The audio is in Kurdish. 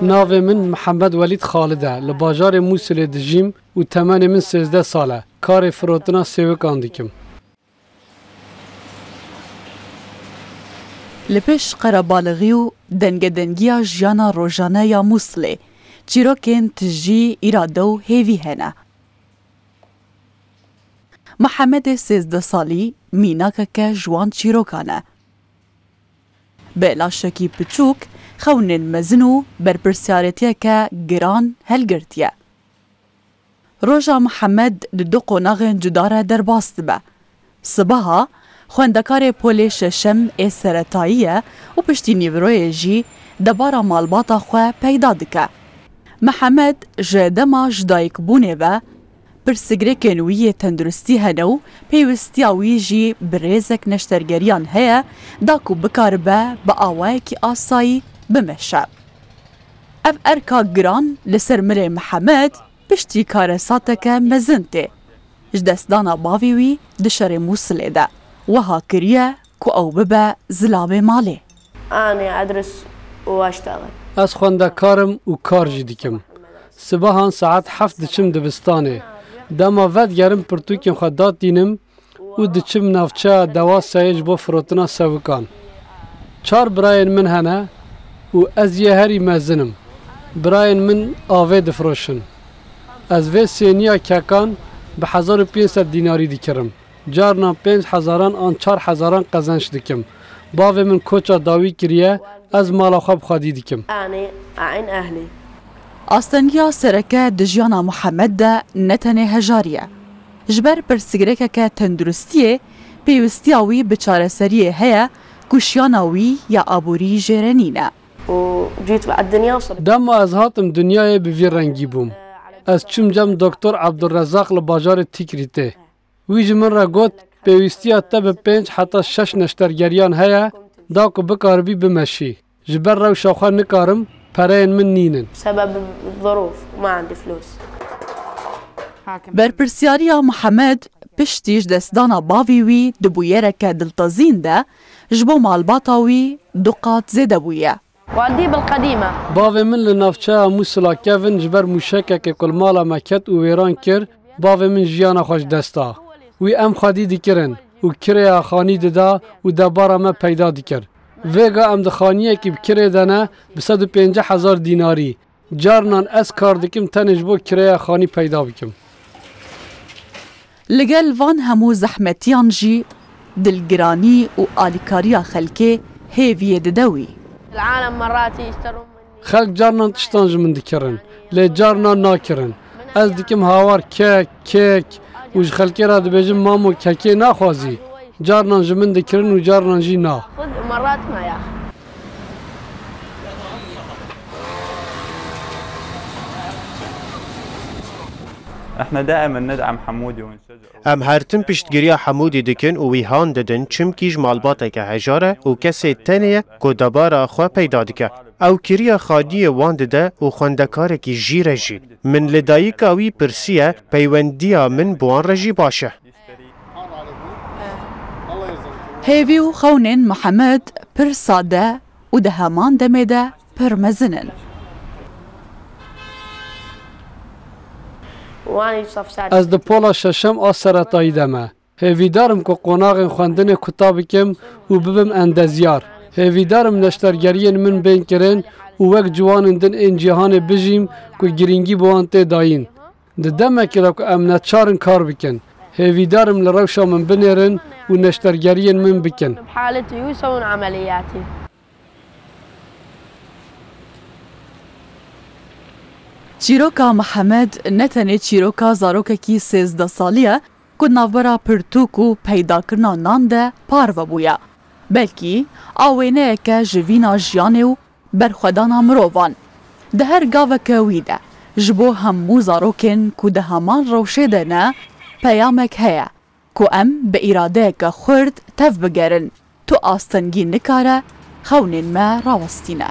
Navê min Mihemed Welîd Xalid e. Li bajarê Mûsilê dijîm û temenê min sêzdeh sal e. Karê firotina sêwikan dikim. Li pêş qerebalixî û dengedengiya jiyana rojane ya Mûsilê, çîrokên tijî, îrade û hêvî hene. Mihemedê sêzdeh salî mînakeke ji wan çîrokan e. Bi laşekî piçûk, xewnên mezin û berpirsyarêtiyeke giran hilgirtiye. Roja Mihemed di du qonaxên cuda re derbas dibe. Sibeha, xwendekarê polê şeşem ê seretayî ye û piştî nîviroyê jî debara malbata xwe peyda dike. Mihemed ji dema ji dayikbûnê ve Pirsgirêkên wî yê tenduristî hene û pêwistiya wî jî bi rêzek neştergeriyan heye da ku bikaribe bi awayekî asayî bimeşe. Ev erka giran li ser Mirê Mihemed piştî karesateke mezin tê. Ji destdana bavê wî di şerê Mûsilê de wiha kiriye Ku ew bibe zilavê malê. Anê Edris û Waştaxê. Ez xwendekar im û kar jî dikim. Sibehan saet heft diçim dibistanê. Dema vedigerim pirtûkên xwe datînim û diçim navçeya Dewaseyê ji bo firotina sewikan. Çar birayên min hene û ez yê herî mezin im. Birayên min avê difiroşin. Ez vê sêniya kekan bi hezar û pênc sed dînarî dikirim. Carnan pênc hezaran an çar hezaran qezenç dikim. Bavê min koça dawî kiriye, ez mala xwe bi xwedî dikim. Astengiya sereke di jiyana Muhammed de ne tenê hejarî ye. Ji ber pirsgirêkeke tenduristiyê, pêwistiya wî bi çareseriyê heye ku şiyana wî ya aborî jêrê nîne. Dema ez hatim dinyayê bi vî rengî bûm. Ez çûm cem Doktor Abdulrezaq li bajarê Tîkrîtê. Wî ji min re got, Pêwîstiya te bi pênc heta şeş neştergeriyan heye da ku bikaribî bimeşî. Ji ber rewşa xwe nikarim, pereyên min nîn in. Berpirsyariya Mihemed piştî ji destdana bavê wî di bûyereke diltezîn de ji bo malbata wî du qat zêde bûye. Waldî bil qedîm e. Bavê min li navçeya Mûsila kevin ji ber mûşekekê ku li mala me ket û wêran kir, bavê min jiyana xwe ji dest da. Wî em xwedî dikirin û kirêya xanî dida û debara me peyda dikir. Vêga em di xaniyekî bi kirê de ne bi sed û pêncî hezar dînarî, Carinan ez kar dikim tenê ji bo kireya xanî peyda bikim. Li gel van hemû zehmetiyan jî dilgiranî û alîkariya xelkê hêviyê dide wî. Xelk carinan tiştan ji min dikirin, lê carinan nakirin. Ez dikim hawar kek, kêk û ji xelkê re dibêjim mamo kekê naxwazî. Carinan ji min dikirin û carinan jî na. Em her tim piştgiriya Hemûdî dikin û wî han didin çimkî ji malbateke hejar e û kesê tenê ye ku debara xwe peyda dike. Ew kiriya xadiyê wan dide û xwendekarekî jî re jî. Min li dayika wî pirsiye peywendiya min bi wan re jî baş e. Hêvî û xewnên Mihemed pir sade û di heman demê de pir mezin in. Ez di pola şeşem a seretayî de me. Hêvîdar im ku qonaxên xwendinê kuta bikim û bibim endezyar. Hêvîdar im neştergeriyên min bên kirin û wek ciwanên din ên cîhanê bijîm ku girîngî bi wan tê dayîn. Di demekê de ku em neçar in kar bikin, hêvîdar im li rewşa min binêrin û neştergeriyên min bikin. Çîroka Mihemed ne tenê çîroka zarokekî sêzdeh salî ye ku di navbera pirtûk û peydakirina nan de parve bûye, belkî a wêneyeke jivîna jiyanê û Berxwedana mirovan di her gaveke wî de ji bo hemû zarokên ku di heman rewşê de ne peyamek heye ku em bi îradeyeke xurt tev bigerin, tu astengî nikare xewnên me rawestîne.